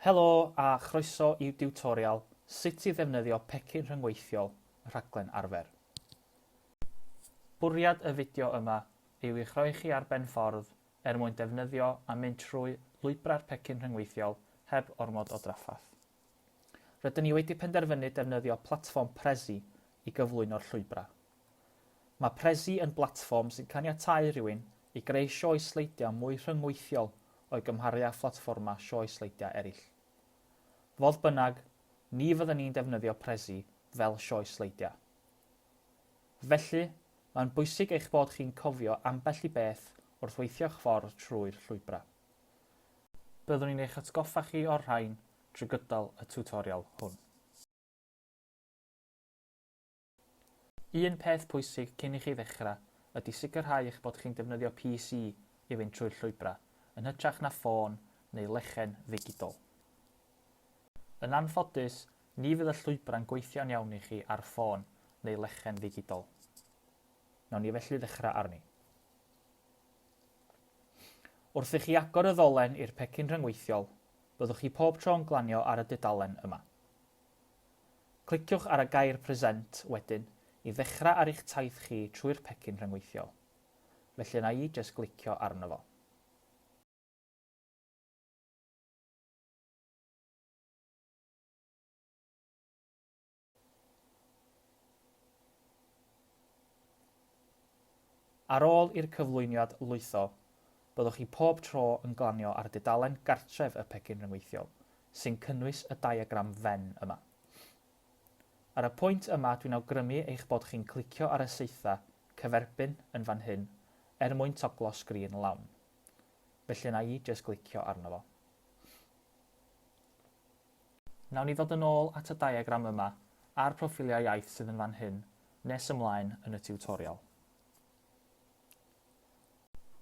Helo a chroeso i'w diwtorial sut i ddefnyddio pecyn rhyngweithiol y rhaglen arfer. Bwriad y fideo yma yw i'ch rhoi chi ar ben ffordd er mwyn defnyddio a mynd trwy lwybrau'r pecyn rhyngweithiol heb ormod o drafferth. Rydyn ni wedi penderfynu defnyddio platfform Prezi i gyflwyno'r llwybrau. Mae Prezi yn blatfform sy'n caniatáu rhywun i greu sioe sleidiau mwy rhyngweithiol o'i gymharu â phlatfformau sioe sleidiau eraill. Fodd bynnag, ni fyddwn ni'n defnyddio Prezi fel sioe sleidiau. Felly, mae'n bwysig eich bod chi'n cofio ambell i beth wrth weithio'ch ffordd trwy'r llwybrau. Byddwn ni'n eich atgoffa chi o'r rhain drwy gydol y tiwtorial hwn. Un peth pwysig cyn i chi ddechrau ydy sicrhau eich bod chi'n defnyddio PC i fynd trwy'r llwybrau, yn hytrach na ffôn neu lechen ddigidol. Yn anffodus, ni fydd y llwybrau'n gweithio'n iawn i chi ar ffôn neu lechen ddigidol. Wnawn ni felly ddechrau arni. Wrth i chi agor y ddolen i'r pecyn rhyngweithiol, byddwch chi pob tro yn glanio ar y dudalen yma. Cliciwch ar y gair Present wedyn i ddechrau ar eich taith chi trwy'r pecyn rhyngweithiol. Felly yna i jyst glicio arno fo. Ar ôl i'r cyflwyniad lwytho, byddwch chi pob tro yn glanio ar dudalen gartref y pecyn rhyngweithiol, sy'n cynnwys y diagram Venn yma. Ar y pwynt yma dwi'n awgrymu eich bod chi'n clicio ar y saetha cyferbyn yn fan hyn er mwyn toglo sgrin lawn. Felly wna i jyst glicio arno fo. Wnawn ni ddod yn ôl at y diagram yma a'r proffiliau iaith sydd yn fan hyn nes ymlaen yn y tiwtorial.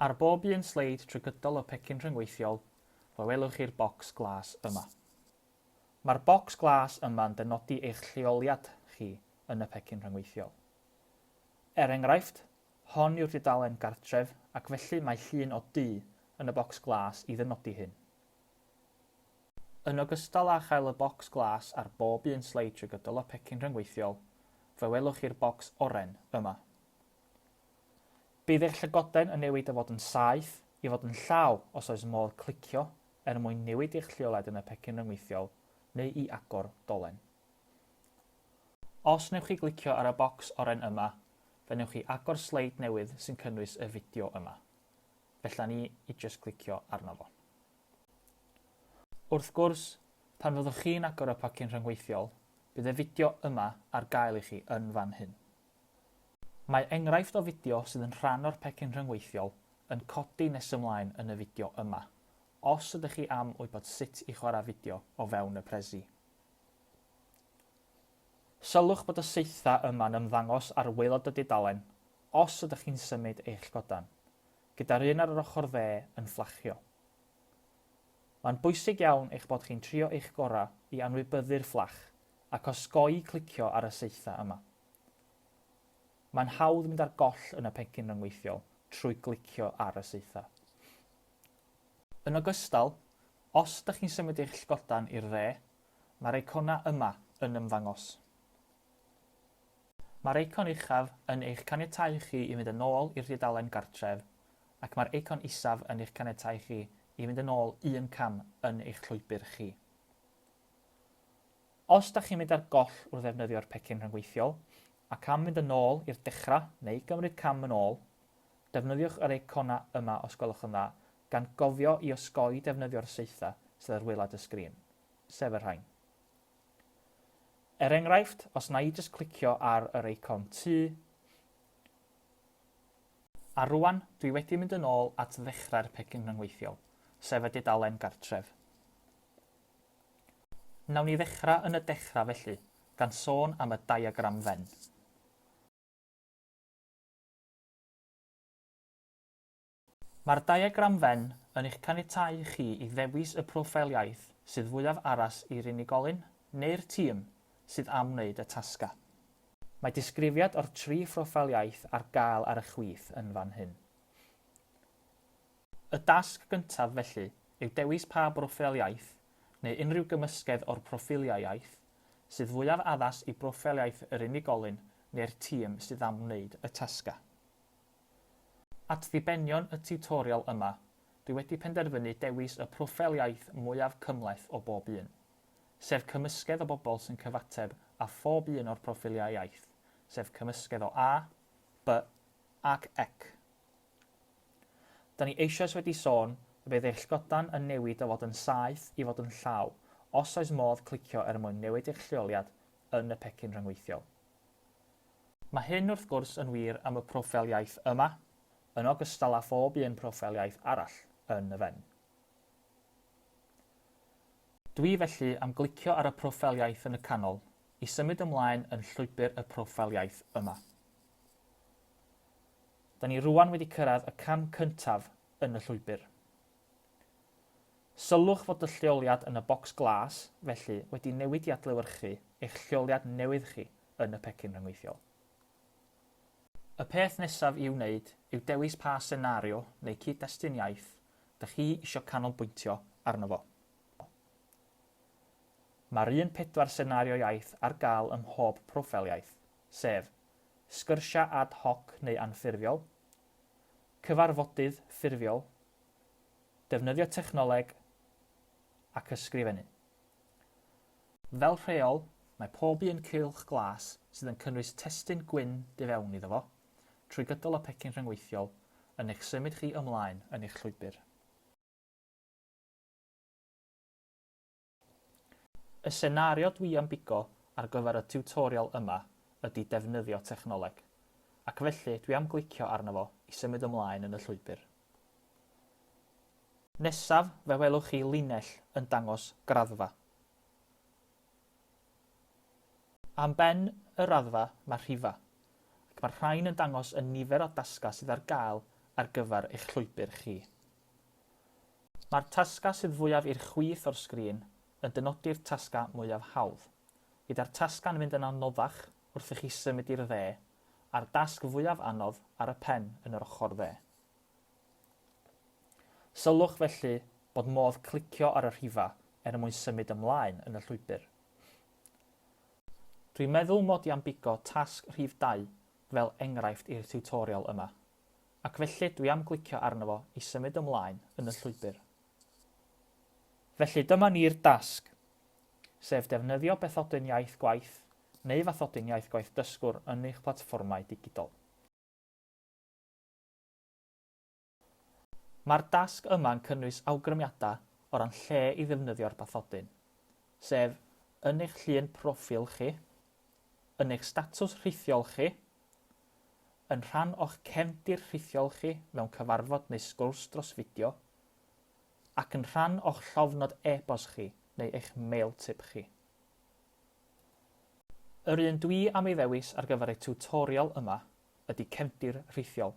Ar bob un sleid trwy gydol y pecyn rhyngweithiol, fe welwch chi'r bocs glas yma. Mae'r bocs glas yma'n dynodi eich lleoliad chi yn y pecyn rhyngweithiol. Er enghraifft, hon yw'r dudalen gartref ac felly mae llun o dŷ yn y bocs glas i ddynodi hyn. Yn ogystal â chael y bocs glas ar bob un sleid trwy gydol y pecyn rhyngweithiol, fe welwch chi'r bocs oren yma. Bydd eich llygoden yn newid o fod yn saeth i fod yn llaw os oes modd clicio er mwyn newid eich lleoliad yn y pecyn ryngweithiol neu i agor dolen. Os wnewch chi glicio ar y bocs oren yma, fe wnewch chi agor sleid newydd sy'n cynnwys y fideo yma. Fella ni i jyst glicio arno fo. Wrth gwrs, pan fyddwch chi'n agor y pecyn rhyngweithiol, bydd y fideo yma ar gael i chi yn fan hyn. Mae enghraifft o fideo sydd yn rhan o'r pecyn rhyngweithiol yn codi nes ymlaen yn y fideo yma, os ydych chi am wybod sut i chwarae fideo o fewn y Prezi. Sylwch bod y saethau yma'n ymddangos ar waelod y dudalen os ydych chi'n symud eich godan, gyda'r un ar yr ochr dde yn fflachio. Mae'n bwysig iawn eich bod chi'n trio eich gorau i anwybyddu'r fflach ac osgoi clicio ar y saethau yma. Mae'n hawdd mynd ar goll yn y pecyn ryngweithiol trwy glicio ar y saethau. Yn ogystal, os ydych chi'n symud eich llgodan i'r dde, mae'r eiconau yma yn ymddangos. Mae'r eicon uchaf yn eich caniatáu chi i fynd yn ôl i'r dudalen Gartref ac mae'r eicon isaf yn eich caniatáu chi i fynd yn ôl un cam yn eich llwybr chi. Os da chi'n mynd ar goll wrth ddefnyddio'r pecyn rhyngweithiol ac am fynd yn ôl i'r dechrau neu gymryd cam yn ôl, defnyddiwch yr eiconau yma os gwelwch yn dda, gan gofio i osgoi defnyddio'r saethau sydd ar waelod y sgrin, sef y rhain. Er enghraifft, os na i jyst clicio ar yr eicon tŷ, a rŵan dwi wedi mynd yn ôl at ddechrau'r pecyn rhyngweithiol, sef y dudalen gartref. Wnawn ni ddechrau yn y dechrau felly, gan sôn am y diagram Venn. Mae'r diagram Venn yn eich caniatáu chi i ddewis y proffeil iaith sydd fwyaf addas i'r unigolyn, neu'r tîm, sydd am wneud y tasgau. Mae disgrifiad o'r tri phroffeil iaith ar gael ar y chwith yn fan hyn. Y dasg gyntaf, felly, yw dewis pa broffeil iaith, neu unrhyw gymysgedd o'r proffiliau iaith, sydd fwyaf addas i broffeil iaith yr unigolyn neu'r tîm sydd am wneud y tasgau. At ddibenion y tiwtorial yma, dwi wedi penderfynu dewis y proffeil iaith mwyaf cymhleth o bob un, sef cymysgedd o bobl sy'n cyfateb â phob un o'r proffiliau iaith, sef cymysgedd o A, B ac Ec. Da ni eisoes wedi sôn y bydd eich llgodan yn newid o fod yn saeth i fod yn llaw, os oes modd clicio er mwyn newid eich lleoliad yn y pecyn rhyngweithiol. Mae hyn wrth gwrs yn wir am y proffeil iaith yma, yn ogystal â phob un proffeil iaith arall yn y fen. Dwi felly am glicio ar y proffeil iaith yn y canol i symud ymlaen yn llwybr y proffeil iaith yma. Da ni rŵan wedi cyrraedd y cam cyntaf yn y llwybr. Sylwch fod y lleoliad yn y bocs glas, felly, wedi newid i adlewyrchu eich lleoliad newydd chi yn y pecyn rhyngweithiol. Y peth nesaf i'w wneud yw dewis pa senario neu cyd-destun iaith dych chi eisiau canolbwyntio arno fo. Mae'r un pedwar senario iaith ar gael ym mhob proffeil iaith, sef, sgyrsiau ad hoc neu anffurfiol, cyfarfodydd ffurfiol, defnyddio technoleg ac ysgrifennu. Fel rheol, mae pob un cylch glas sydd yn cynnwys testun gwyn du fewn iddo fo, trwy gydol y pecyn rhyngweithiol, yn eich symud chi ymlaen yn eich llwybr. Y senario dwi am bigo ar gyfer y tiwtorial yma ydi defnyddio technoleg, ac felly dwi am glicio arno fo i symud ymlaen yn y llwybr. Nesaf fe welwch chi linell yn dangos graddfa. Am ben y raddfa mae rhifa, ac mae'r rhain yn dangos y nifer o dasgau sydd ar gael ar gyfer eich llwybr chi. Mae'r tasgau sydd fwyaf i'r chwith o'r sgrin yn dynodi'r tasgau mwyaf hawdd, gyda'r tasgau'n mynd yn anoddach wrth i chi symud i'r dde, a'r dasg fwyaf anodd ar y pen yn yr ochr dde. Sylwch felly bod modd clicio ar y rhifau er mwyn symud ymlaen yn y llwybr. Dwi'n meddwl mod i am bigo tasg rhif dau fel enghraifft i'r tiwtorial yma. Ac felly dwi am glicio arno fo i symud ymlaen yn y llwybr. Felly dyma ni'r dasg, sef defnyddio Bathodyn Iaith Gwaith neu Fathodyn Iaith Gwaith Dysgwr yn eich platfformau digidol. Mae'r dasg yma'n cynnwys awgrymiadau o ran lle i ddefnyddio'r bathodyn, sef yn eich llun proffil chi, yn eich statws rhithiol chi, yn rhan o'ch cefndir rhithiol chi mewn cyfarfod neu sgwrs dros fideo, ac yn rhan o'ch llofnod e-bost chi neu eich mailtip chi. Yr un dwi am ei ddewis ar gyfer y tiwtorial yma ydy cefndir rhithiol,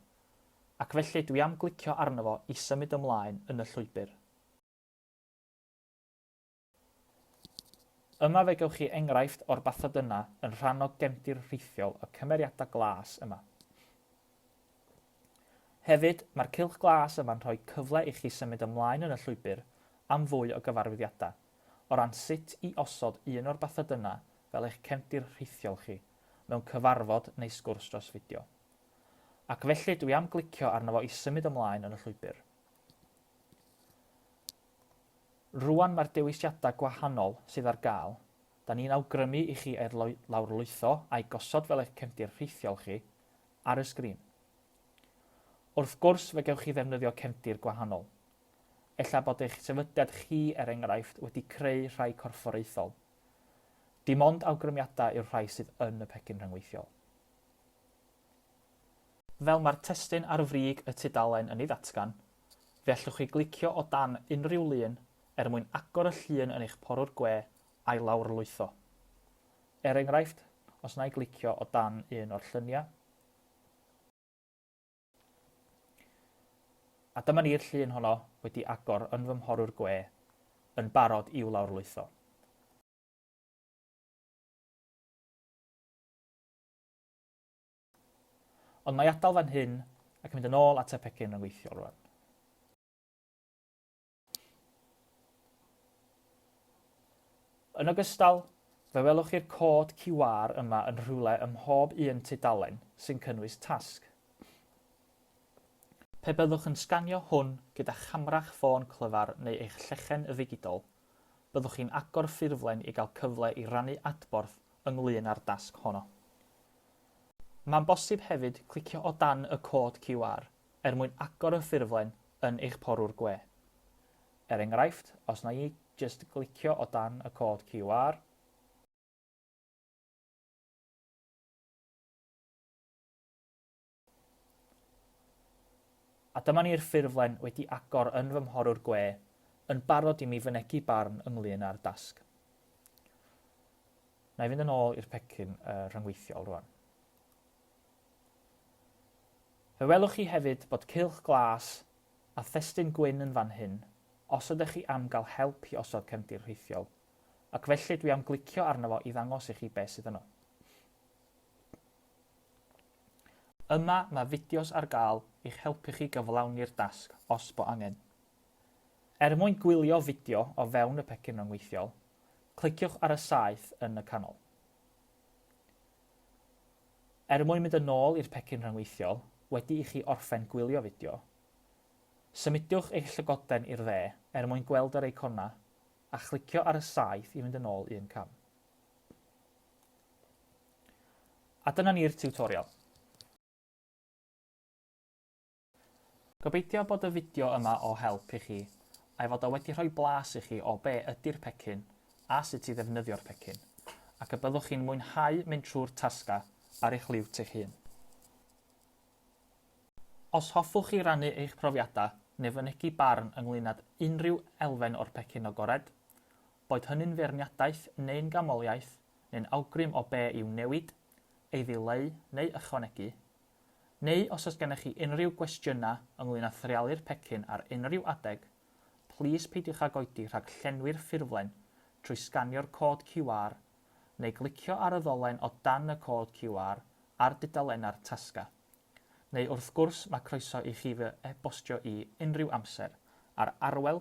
ac felly dwi am glicio arno fo i symud ymlaen yn y llwybr. Yma fe gewch chi enghraifft o'r bathodyna yn rhan o gefndir rhithiol y cymeriadau glas yma. Hefyd, mae'r cylch glas yma'n rhoi cyfle i chi symud ymlaen yn y llwybr am fwy o gyfarwyddiadau o ran sut i osod un o'r bathodyna fel eich cefndir rhithiol chi mewn cyfarfod neu sgwrs dros fideo. Ac felly dwi am glicio arno fo i symud ymlaen yn y llwybr. Rŵan mae'r dewisiadau gwahanol sydd ar gael, 'da ni'n awgrymu i chi eu lawrlwytho a'u gosod fel eich cefndir rhithiol chi, ar y sgrin. Wrth gwrs, fe gewch chi ddefnyddio cefndir gwahanol. Ella bod eich sefydliad chi, er enghraifft, wedi creu rhai corfforaethol. Dim ond awgrymiadau yw'r rhai sydd yn y pecyn rhyngweithiol. Fel mae'r testun ar frig y tudalen yn ei ddatgan, fe allwch chi glicio o dan unrhyw lun er mwyn agor y llun yn eich porwr gwe a'i lawrlwytho. Er enghraifft, os na i glicio o dan un o'r lluniau, a dyma ni'r llun honno wedi agor yn fy mhorwr gwe yn barod i'w lawrlwytho. Ond mae atal fan hyn ac mynd yn ôl at y pecyn yn weithiol rwan. Yn ogystal, fe welwch chi'r cod QR yma yn rhywle ym mhob un tudalen sy'n cynnwys tasg. Pe byddwch yn sganio hwn gyda chamra'ch ffôn clyfar neu eich llechen ddigidol, Byddwch chi'n agor ffurflen i gael cyfle i rannu adborth ynglŷn â'r dasg honno. Mae'n bosib hefyd clicio o dan y cod QR er mwyn agor y ffurflen yn eich porwr gwe. Er enghraifft, os wna i jyst glicio o dan y cod QR, A dyma ni'r ffurflen wedi agor yn fy mhorwr gwe, yn barod i mi fynegi barn ynglŷn â'r dasg. Na i fynd yn ôl i'r pecyn uh, rhyngweithiol rwan. Fe welwch chi hefyd bod cylch glas a thestun gwyn yn fan hyn, os ydych chi am gael help i osod cefndir rhithiol, ac felly dwi am glicio arno fo i ddangos i chi beth sydd yno. Yma mae fideos ar gael i'ch helpu chi gyflawni'r dasg os bo angen. Er mwyn gwylio fideo o fewn y pecyn ryngweithiol, cliciwch ar y saeth yn y canol. Er mwyn mynd yn ôl i'r pecyn rhyngweithiol wedi i chi orffen gwylio fideo, symudiwch eich llygoden i'r dde er mwyn gweld yr eiconau a chlicio ar y saeth i fynd yn ôl un cam. A dyna ni'r tiwtorial. Gobeithio bod y fideo yma o help i chi, a'i fod o wedi rhoi blas i chi o be ydi'r pecyn a sut i ddefnyddio'r pecyn, ac y byddwch chi'n mwynhau mynd trwy'r tasgau ar eich liwt eich hun. Os hoffwch chi rannu eich profiadau neu fynegi barn ynglŷn âd unrhyw elfen o'r pecyn agored, boed hynny'n feirniadaeth neu'n ganmoliaeth neu'n awgrym o be i'w newid, ei ddileu neu ychwanegu, neu os oes gennych chi unrhyw gwestiynau ynglŷn â threialu'r pecyn ar unrhyw adeg, plîs peidiwch ag oedi rhag llenwi'r ffurflen trwy sganio'r cod QR neu glicio ar y ddolen o dan y cod QR ar dudalennau'r tasgau. Neu wrth gwrs mae croeso i chi fy e-bostio i unrhyw amser ar arwel